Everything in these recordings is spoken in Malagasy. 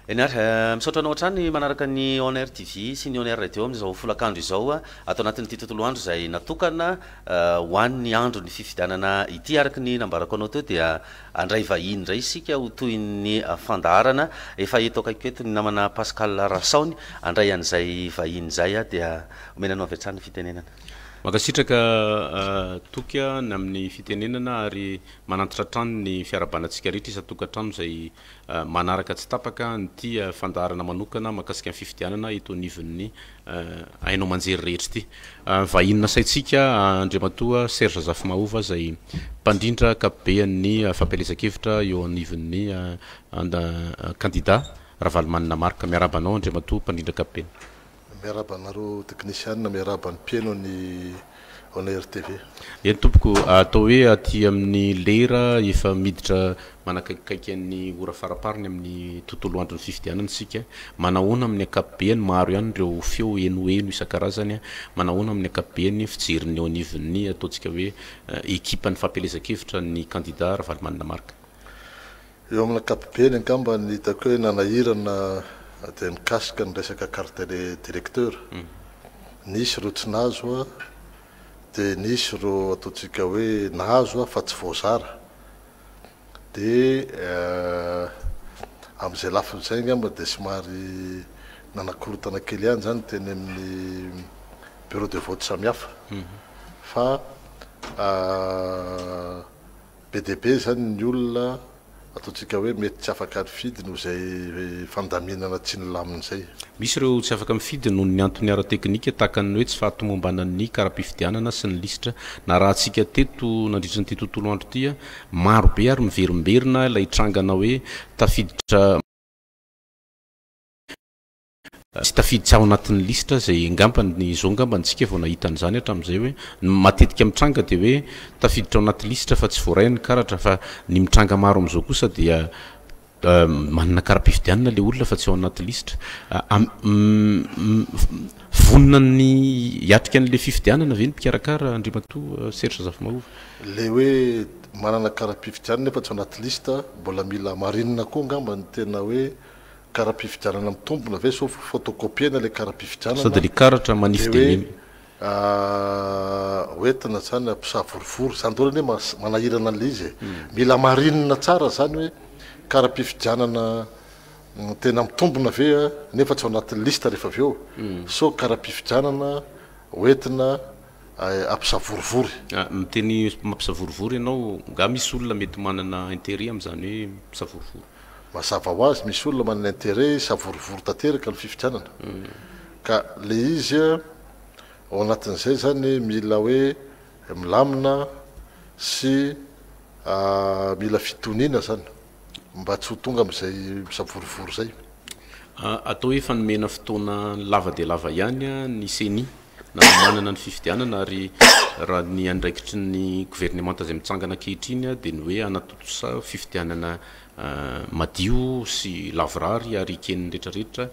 Eny ary, misaotra anao hatrany manaraka ny On Air TV sy ny On Air Radio amin'izao folakandro izao ato anatin'ity tontolo andro izay natokana ho an'ny andron'ny fifidianana ity. Araka ny nambarako anao teo dia handray vahiny indray isika ho toy ny fandaharana. Efa eto akaikiko eto ny namana Pascal Rasaony handray an'izay vahiny izay dia omena anao avy hatrany ny fitenenana. Mankasitraka Toky a, ny amin'ny fitenenana ary manantitra hatrany ny fiarahabanantsika rehetra isan-tokantrano izay Manaraka tsy tapaka ny tia fandaharana manokana mahakasika ny fifidianana eto anivon'ny haino aman-jery rehetra ity. Vahiny nasaintsika Andriamatoa Serge Zafimahova izay mpandrindra ankapobean'ny fampielezan-kevitra eo anivon'ny kandida Ravalomanana Marc. Miarahaba anao Andriamatoa mpandrindra ankapobeny. Miarahaba anareo teknisianina, miarahaba ny mpieno an'i On Air TV. Eny tompoko, atao hoe aty amin'ny lera efa miditra manakaikikaiky an'ny ora faraparany amin'ny tontolo andron'ny fifidianana isika, manahoana amin'ny ankapobeny, maro ihany ireo feo henoheno isan-karazany, manahoana amin'ny ankapobeny fijeriny eo anivon'ny ataontsika hoe ekipan'ny fampielezan-kevitra ny kandida Ravalomanana Marc? Eo amin'ny ankapobeny angamba ny hitako hoe nanahirana dia mikasika ny resaka carte de directeur. Nisy ireo tsy nahazo dia nisy ireo ataontsika hoe nahazo fa tsy voazara. Dia amin'izay lafiny izay angamba dia somary nanakorontana kely ihany izany teny amin'ny bureau de vote samihafa fa Be dia be izany ny olona ataontsika hoe mety tsy afaka nifidy noho izay fandaminana tsy nilamina izay. Misy ireo tsy afaka mifidy noho ny antony ara-teknika tahaka ny hoe tsy fahatomombanan'ny kara-pifidianana sy ny lisitra narahantsika teto nandritra an'ity tontolo andro ity. Maro be ary miverimberina ilay trangana hoe tafiditra. Tsy tafiditra ao anatin'ny lisitra izay angamba izao angamba no tsika vao nahita an'izany hatramin'izay hoe ny matetika mitranga dia hoe tafiditra ao anaty lisitra fa tsy voaray ny karatra fa ny mitranga maro amin'izao kosa dia manana kara-pifidianana ilay olona fa tsy ao anaty lisitra. Vonona ny hiatrika an'ilay fifidianana ve ny mpikarakara Andriamatoa Serge Zafimahova? Ilay hoe manana kara-pifidianana nefa tsy ao anaty lisitra mbola mila hamarinina koa angamba ny tena hoe kara-pifidianana mitombina ve so fotokopiena ilay kara-pifidianana dia karatra manify dia hoe ho entina izany hampisavorovoro izany daholo anie manahirana an'ilay izy e. Mila marinina tsara izany hoe kara-pifidianana tena mitombina ve nefa tsy ao anatin'ny liste rehefa avy eo so kara-pifidianana ho entina hampisavorovoro. Miteny mampisavorovoro ianao, nga misy olona mety manana interet amin'izany hoe mpisavorovoro? Mazava ho azy misy olona manana intérêt hisavorovoro tanteraka ny fifidianana ka le izy ao anatin'izay zany mila hoe milamina sy mila fitoniana zany mba tsy ho tonga amizay misavorovoro zay. Atao hoe fanomena fotoana lava dia lava ihany ny ceni nanomanana ny fifidianana ary raha ny andraikitry ny governemanta izay mitsangana ankehitriny dia ny hoe hanatontosa fifidianana madio sy lavorary ary eken'ny rehetra rehetra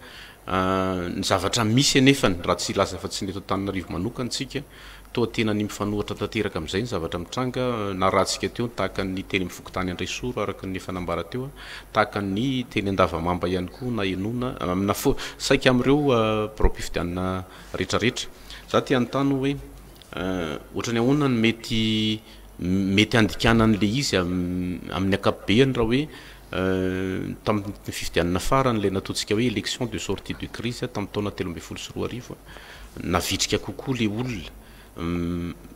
ny zavatra misy anefany raha tsy hilaza fa tsy ny eto Antananarivo manokana tsika toa tena ny mifanohatra tanteraka amin'izay ny zavatra mitranga narahantsika teo ny tahaka ny teny amin'ny fokontany Andraisoro araka ny efa nambara teo tahaka ny teny Andavamamba ihany koa nahenoana amina saika amin'ireo biraom-pifidianana retraretra. Za te hanontany oe otrany ahoana no mety mety handikana anle izy aminy ankapobeny raha oe taminy fifidianana farany ilay natotsika oe election de sortie de crise taminy taona telo ambin'ny folo sy roa arivo navitrika kokoa le olona.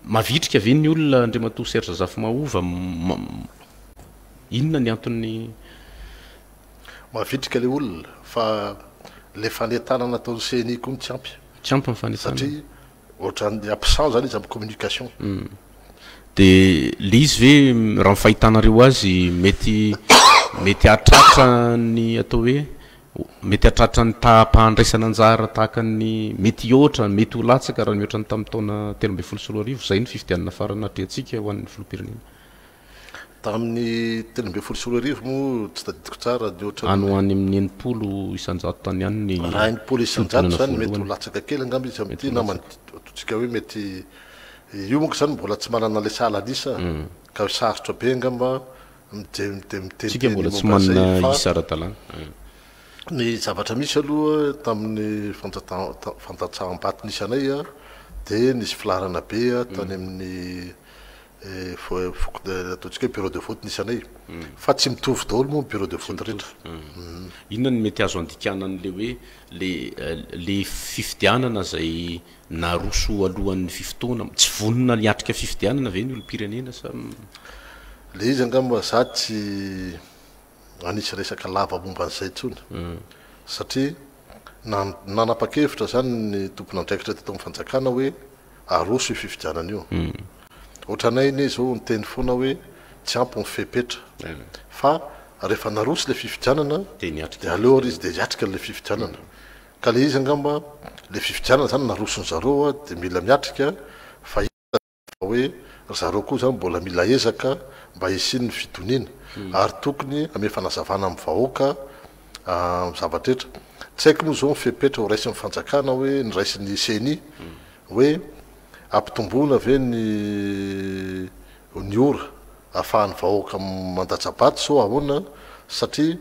Mavitrika ve ny olona Andriamatoa Serge Zafimahova? Inona ny antony? Mavitrika le olona fa le fanetana nataon'ny ceni koa no tsy ampy. Tsy ampy ny fanetana. Satria ohatran'ny absent zany izy amin'ny communication. De le izy ve raha ny fahitanareo azy mety mety hahatratra ny atao hoe mety hahatratra ny taham-pahandraisana anjara tahaka ny mety hihoatra, mety ho latsaka raha nihoatra ny tamin'ny taona telo ambin'ny folo sy roa arivo izay ny fifidianana farany natrehantsika ho an'ny filoham-pirenena? Tamin'ny telo ambin'ny folo sy roa arivo moa tsy tadidiko tsara ny ohatran'ny. Any ho any amin'ny enimpolo isan-jato tany ihany ny fihodinana voalohany. Raha enimpolo isan-jato izany mety ho latsaka kely angamba izy amin'ity namana antsointsika hoe mety io manko izany mbola tsy manana ilay sahala an'isa ka sarotra be angamba miteniteny Tsika mbola tsy manana isa ara-dalàna. Ny zavatra misy aloha tamin'ny fandatsaham-baton'isanay dia nisy filaharana be tany amin'ny. Ataontsika hoe bureau de vote nisy anay. Fa tsy mitovy daholo moa ny bureau de vote rehetra. Inona no mety azo andikana an'ilay hoe ilay fifidianana izay naroso alohan'ny fifotoana? Tsy vonona hiatrika fifidianana ve ny olom-pirenena sa? Ilay izy angamba za tsy. hanisy resaka lava momba an'izay intsony, satria nanapa-kevitra izany ny tompon'andraikitra teto amin'ny fanjakana hoe aroso io fifidianana io. Ohatranay anie izao niteny foana hoe tsy ampy ny fepetra, fa rehefa naroso ilay fifidianana dia aleo ary izy dia hiatrika an'ilay fifidianana. Ka ilay izy angamba, ilay fifidianana izany naroson'i zareo dia mila miatrika, fa hita fa hoe ry zareo koa izany mbola mila ezaka mba hisian'ny fitoniana ary tokony hanome fanazavana amin'ny vahoaka amin'ny zavatra rehetra. Tsy haiko moa izao ny fepetra ho raisin'ny fanjakana hoe noraisin'ny ceni hoe hampitomboina ve ny ny ora ahafahan'ny vahoaka mandatsa-bato sao ahoana satria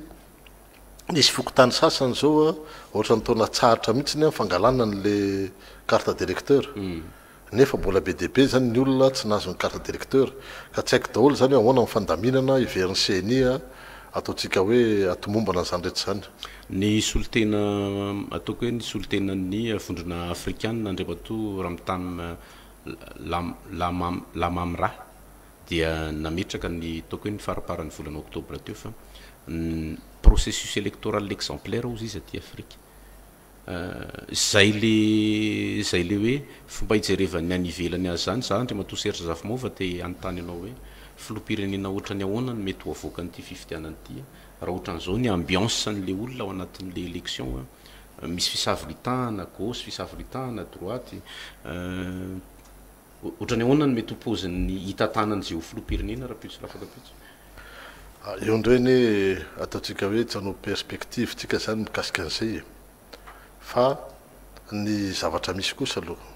nisy fokontany sasany izao ohatran'ny tao Natsaharitra mihitsy ny fangalana an'ilay carte d'électeur. Nefa mbola be dia be izany ny olona tsy nahazo ny carte d'électeur ka tsy haiko daholo izany hoe ahoana ny fandaminana heverin'ny ceni ataontsika hoe atomombana izany rehetra izany. Ny solontena ataoko hoe ny solontenan'ny vondrona afrikanina Andriamatoa Ramtam Lamamra dia nametraka ny ataoko hoe ny faramparan'ny volana oktobra teo fa ny processus électoral exemplaire hozy izy aty Afrika. Izay le izay le hoe fomba ijerevan'ny any ivelany azy izany. Za Andriamatoa Serge Zafimova te hanontany anao hoe filoham-pirenena ohatrany ahoana no mety ho avoakan'ity fifidianana ity raha ohatran'izao ny ambiance an'le olona ao anatin'le election misy fisavolitahana gauche, fisavolitahana droite. Ohatrany ahoana ny mety ho paozin'ny hitantanan'i Jeho filoham-pirenena, Rapitso Rafakapitso? Io indray anie ataontsika hoe tsy hanao perspective tsika izany mikasika an'izay e! Fa ny zavatra misy kosa aloha,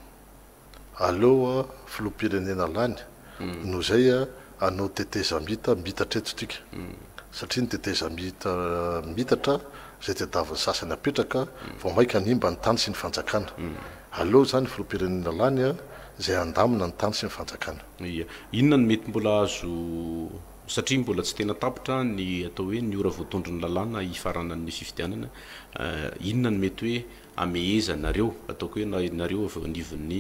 aleo filoham-pirenena lany noho izay anao tetezamita mitatra eto tika satria ny tetezamita mitatra izay tadiavin'ny sasany apetraka vao maika hanimba ny tany sy ny fanjakana. Aleo izany ny filoham-pirenena lany izay handamina ny tany sy ny fanjakana. Ia. Inona no mety mbola azo satria mbola tsy tena tapitra ny atao hoe ny ora voatondron'ny lalàna hifaranan'ny fifidianana, inona no mety hoe amehezanareo ataoko hoe nareo avy eo anivon'ny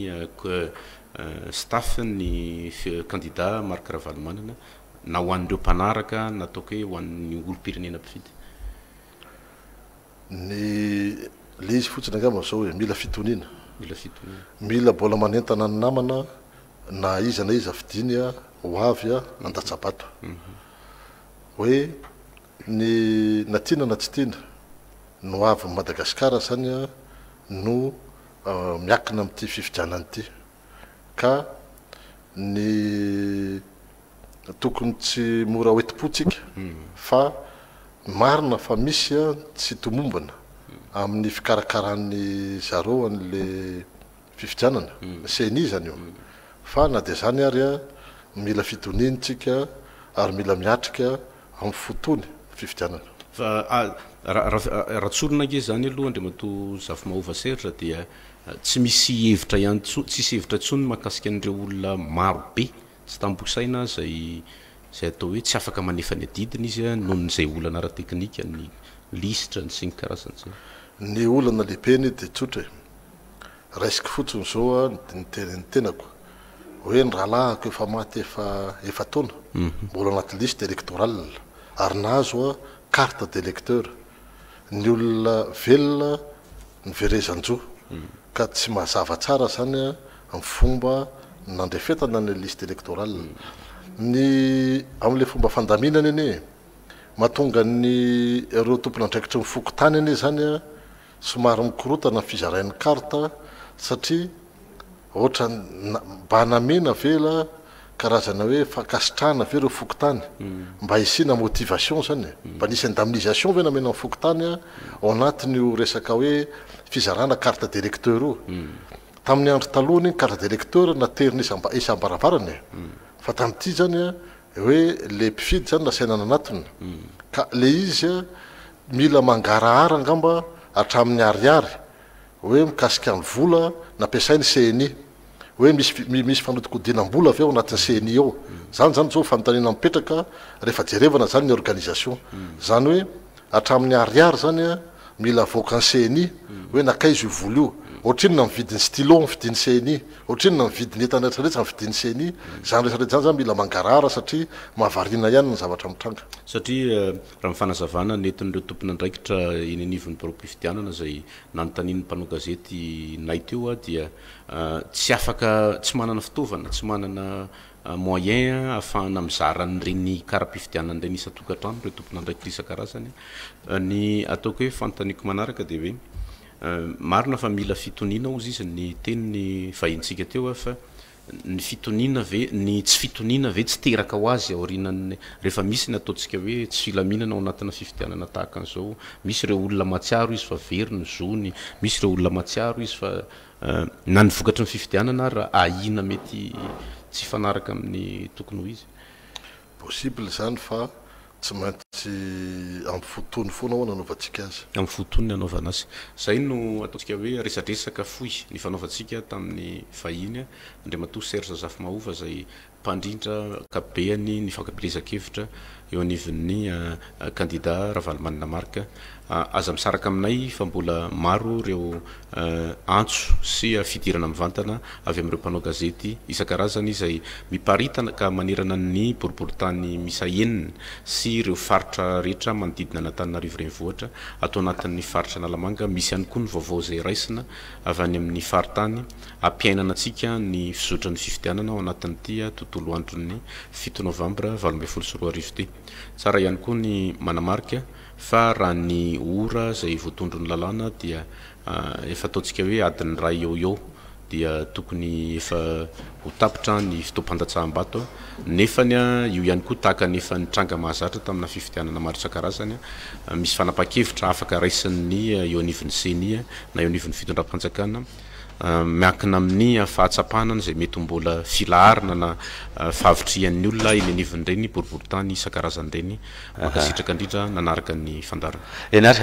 staff ny kandida Marc Ravalomanana na ho an'ireo mpanaraka na ataoko hoe ho an'ny olom-pirenena mpifidy? Ny le izy fotsiny angamba zao e, mila fitoniana, Mila fitoniana. mila mbola manentana ny namana na iza na iza fidiny ho avy handatsa-bato hoe, Ny na tiana na tsy tiana, ny ho avin'i Madagasikara izany no miakina amin'ity fifidianana ity. Ka ny tokony tsy mora ho enti-po tsika fa marina fa misy ny tsy tomombana amin'ny fikarakaran'ny zareo an'ilay fifidianana, ny ceni izany io, fa na dia izany ary mila fitoniany tsika ary mila miatrika amin'ny fotony ny fifidianana. Fa raha tsorina ange izany aloha Andriamatoa Zafimahova Serge dia tsy misy hevitra ihany intsony, tsisy hevitra intsony ny mahakasika an'ireo olona maro be tsy tambo saina izay izay atao hoe tsy afaka manefa ny adidiny izy noho ny izay olana ara-teknika, ny lisitra, ny sy ny karazany izany. Ny olana lehibeny dia tsotra e! Raisiko fotsiny izao ny tenin'ny tenako hoe ny rahalahiko efa maty efa efa-taona, mbola anaty liste électorale ary nahazo carte d'électeur. Ny olona velona ny verezan-jo ka tsy mazava tsara izany ny fomba nandrefetana ny liste électorale. Ny amin'ilay fomba fandaminana anie mahatonga ny ireo tompon'andraikitry ny fokontany anie izany Somary mikorotana ny fizarain'ny carte satria ohatran bana mena ve la karazana hoe fankasitrahana ve reo fokontany mba hisiana motivation zany e? Mba nisy indemnisation ve namena ny fokontany ao anatin'io resaka hoe fizarana carte d'electeur io? Tamin'ny andro taloha anie ny carte d'electeur naterina isam isam-baravarana e! Fa tamin'ity zany hoe le mpifidy zany nasaina nanatona ka le izy Mila mangarahara angamba hatramin'ny ariary hoe mikasika ny vola nampiasain'ny ceni, hoe misy misy fanodikodinam-bola ve ao anatin'ny ceni ao? Izany izany izao fanontaniana mipetraka rehefa jerevana izany ny organisation. Izany hoe hatramin'ny ariary izany an, mila avoakan'ny ceni hoe nankaiza io vola io, ohatrinona ny vidin'ny stylo ny fidin'ny ceni, ohatrinona ny vidin'ny entana rehetra rehetra ny fidin'ny ceni, izany rehetra rehetra izany izany mila mangarahara satria mahavariana ihany ny zavatra mitranga. Satria. Raha ny fanazavana nentin'ireo tompon'andraikitra eny anivon'ny biraom-pifidianana izay nanontanian'ny mpanao gazety nay teo aho dia tsy afaka, tsy manana fitaovana, tsy manana moyen ahafahana mizara an'ireny kara-pifidianana ireny isan-tokantrano ireo tompon'andraikitra isan-karazany. Ny ataoko hoe fanontaniako manaraka dia hoe marina fa mila fitoniana hozy izy ny tenin'ny vahintsika teo aho fa Ny fitoniana ve, ny tsy fitoniana ve tsy teraka ho azy aorianan'ny, rehefa misy ny ataontsika hoe tsy filaminana ao anatina fifidianana tahaka an'izao, misy ireo olona mahatsiaro izy fa very ny zony, misy ireo olona mahatsiaro izy fa na ny vokatry ny fifidianana ary ahiana mety tsy hifanaraka amin'ny tokony ho izy? Possible izany fa Tsy maintsy amin'ny fo tony foana ao no anaovantsika azy. Amin'ny fo tony no anaovana azy. Izay no ataontsika hoe resadresaka fohy nifanaovantsika tamin'ny vahiny Andriamatoa Serge Razafimahova izay mpandrindra ankapobeany ny fankabelezan-kevitra eo anivon'ny kandida Ravalomanana Marc Aza misaraka aminay fa mbola maro ireo antso sy fidirana mivantana avy amin'ireo mpanao gazety isan-karazany izay miparitaka manerana ny boriborintany miisa enina sy ireo faritra rehetra manodidina an'Antananarivo Renivohitra, ato anatin'ny faritra Analamanga. Misy ihany koa ny vaovao izay raisina avy any amin'ny faritany hampiainana antsika ny fizotran'ny fifidianana ao anatin'ity tontolo andron'ny fito novambra valo ambin'ny folo sy roa arivo ity. Tsara ihany koa ny manamarika. Fa raha ny ora izay voatondron'ny lalàna dia efa ataontsika hoe adiny iray eo ho eo dia tokony efa ho tapitra ny fotoam-pandatsaham-bato nefany io ihany koa tahaka ny efa nitranga mahazatra tamina fifidianana maro isan-karazany misy fanapahan-kevitra afaka raisin'ny eo anivon'ny ceni na eo anivon'ny fitondram-panjakana miankina amin'ny fahatsapana izay mety ho mbola filaharana na fahavitrihan'ny olona eny anivon'ireny boriborintany isan-karazany ireny. Mankasitraka indrindra nanaraka ny fandaharana. Eny ary,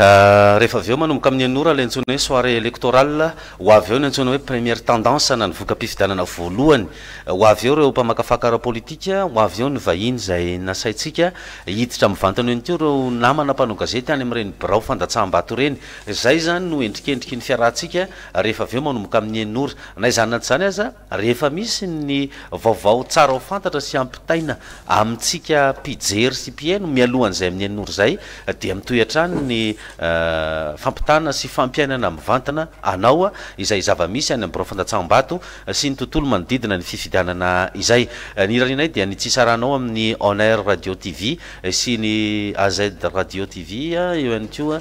rehefa avy eo manomboka amin'ny enina ora ilay antsoina hoe soirée électorale, ho avy eo ny antsoina hoe première tendance na ny voka-pifidianana voalohany, ho avy eo ireo mpamakafaka ara-politika, ho avy eo ny vahiny izay nasaintsika hiditra mivantana eny koa ireo namana mpanao gazety any amin'ireny birao fandatsaham-bato ireny. Izay izany no endrikendriky ny fiarahantsika rehefa avy eo manomboka amin'ny enina ora. Na izany na tsy izany aza, rehefa misy ny vaovao tsara ho fantatra sy hampitaina amintsika mpijery sy mpiheno mialohan'izay amin'ny enina ora izay, dia mitohy hatrany ny fampitana sy fampiainana mivantana anao izay zava-misy any amin'ny birao fandatsaham-bato sy ny tontolo manodidina ny fifidianana izay. Ny hirarianay dia ny tsy hisarahanao amin'ny On Air Radio TV sy ny AZ Radio TV, eo ihany koa.